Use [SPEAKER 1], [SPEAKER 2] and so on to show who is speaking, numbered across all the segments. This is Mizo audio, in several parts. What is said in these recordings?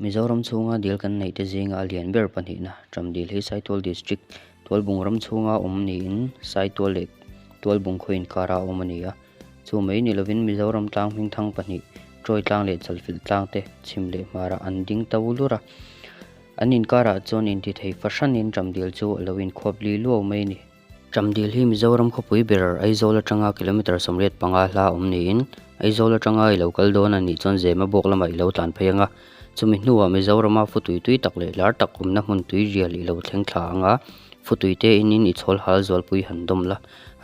[SPEAKER 1] Mizoram chhunga dil kan neihte zinga a lian ber pahnihna ṭam dil hi Saitual District Tualbung ram chhunga awm niin Saitual leh Tualbung khaw inkarah a awm a ni a. Chu mai ni lovin Mizoram tlang hming thang pahnih, Troy tlang leh Chalfilh tlang te chhim leh hmarah an ding ta u lur a. An inkarah chuan intithei fahranin ṭam dil chu a lo inkhuap li luau mai a ni. Ṭam dil hi Mizoram khawpui berar Aizawl aṭanga kilometre sawmriat panga hla awm niin Aizawl aṭanga i lo kal dawn a nih chuan Zema bawk lamah i lo tlan phei ang a. Chumi hnuah Mizorama futui tui tak leh hlar tak awmna hmun tuirial i lo thleng thla ang a, futuite inin i chhawlhal zualpui han dawm la,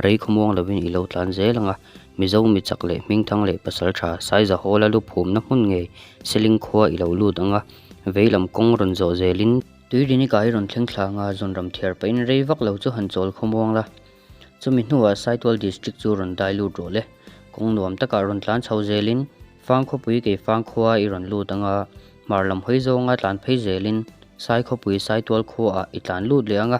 [SPEAKER 1] rei khawmuang lovin i lo tlan zel ang a. Mizo mi chak leh hmingthang leh pasalṭha Saizahawla luphumna hmun ngei Selingkhua i lo lut ang a, veilam kawng rawn zawh zelin, Tuirini kai rawn thleng thla anga zawn ram thiar pahin rei vak lo chu han chawl khawmuang la. Chumi hnuah Saitual District chu rawn dai lut rawh le. Kawng nuam takah rawn tlan chho zelin, fang khawpui kei fang khuaa i rawn lut anga, hmar lam hawi zawnga tlan phei zelin, Sai khawpui Saitual khuaa i tlan lut leh anga.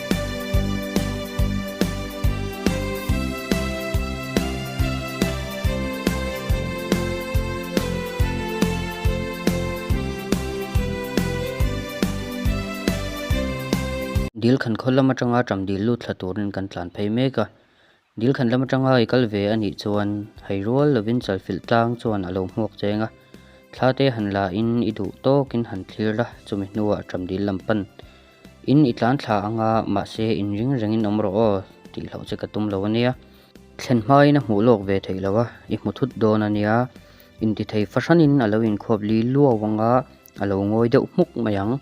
[SPEAKER 1] Dil khan khawl lam atanga ṭam dil lut thla turin kan tlan phei mek a. Dilkhan lam atanga i kal ve a nih chuan hei rual lovin chalfilh tlang chuan a lo hmuak cheng a, thla te han la in i duh tawkin han thlir la, chumi hnuah a ṭam dil lam pan in i tlan thla ang a, mahse in ring reng in awm rawh aw tih hlauh che ka tum lo a nia. Thlen hmain a hmuh lawk ve theih lo a, i hmu thut dawn a nia, intithei fahran in a lo inkhawp li luau ang a, a lo ngawi deuh hmuk mai ang,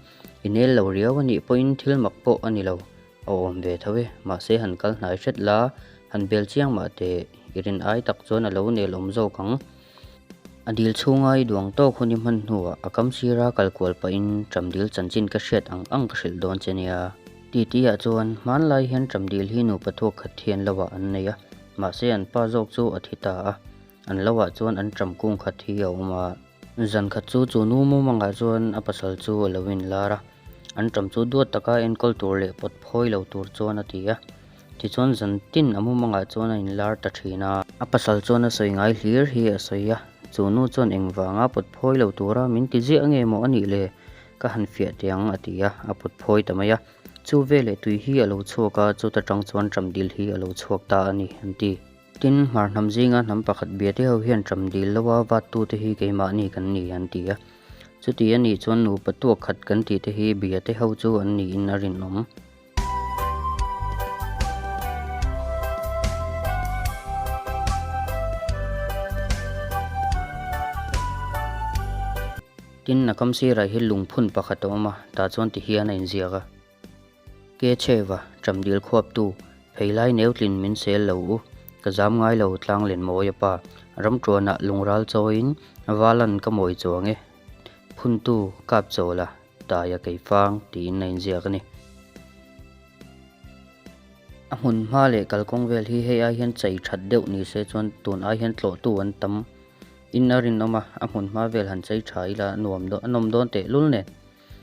[SPEAKER 1] i nel lo riau a nih pawhin thil mak pawh a ni lo. A awm ve tho e, mahse han kal hnai hret la, han bel chiang mah teh, i rin ai tak chuan a lo nel awm zawk ang. A dil chhunga i duang tawk hun i hman hnuah a kam sira kal kual pahin ṭam dil chanchin ka hriat ang ang ka hrilh dawn che nia. Titiah chuan hmanlai hian ṭam dil hi nupa thuak khat hian lohah an nei a, mahse an pa zawk chu a thi ta a, an lohah chuan an ṭam kung khat hi a awm a. Zan khat chu chu nu mu mangah chuan a pasal chu a lo inlar a, an ṭam chu duat taka enkawl tur leh pawt phawi lo tur chuan a ti a. Tichuan zan tin a mu mangah chuan a inlar ta ṭhin a. A pasal chuan a sawi ngai hlir hi a sawi a, chu nu chuan engvanga pawt phawi lo tura min ti ziah nge maw a nih le, ka han fiah teh ang a ti a, a pawt phawi ta mai a. Chu veleh tui hi a lo chhuak a, chuta ṭang chuan ṭamdil hi a lo chhuak ta a ni, an ti. Tin, hmar hnam zinga hnam pakhat biate ho hian ṭam dil loa vattute hi keimahni kan ni an ti a. Chuti a nih chuan nupa tuak khat kan tih te hi biate ho chu an niin a rinawm. Tin, a kam sirah hi lungphun pakhat a awm a, tah chuan ti hian a inziak a. Ke cheva, cham dil khuaptu, phei lai neu tlin min sel lo u, ka zam ngai lo tlang len maw ia pa, ram tuanah lung ral chawiin va lan ka mawi chuang e, phuntu kap chaw la, taia kei fang tiin a inziak a ni. A hmun hma leh kalkawng vel hi hei ai hian chei that deuh ni se chuan tun ai hian tlawhtu an tam, in a rinawm a, a hmun hma vel han chei tha ila a nuam dawn, a nawm dawn tehlul nen.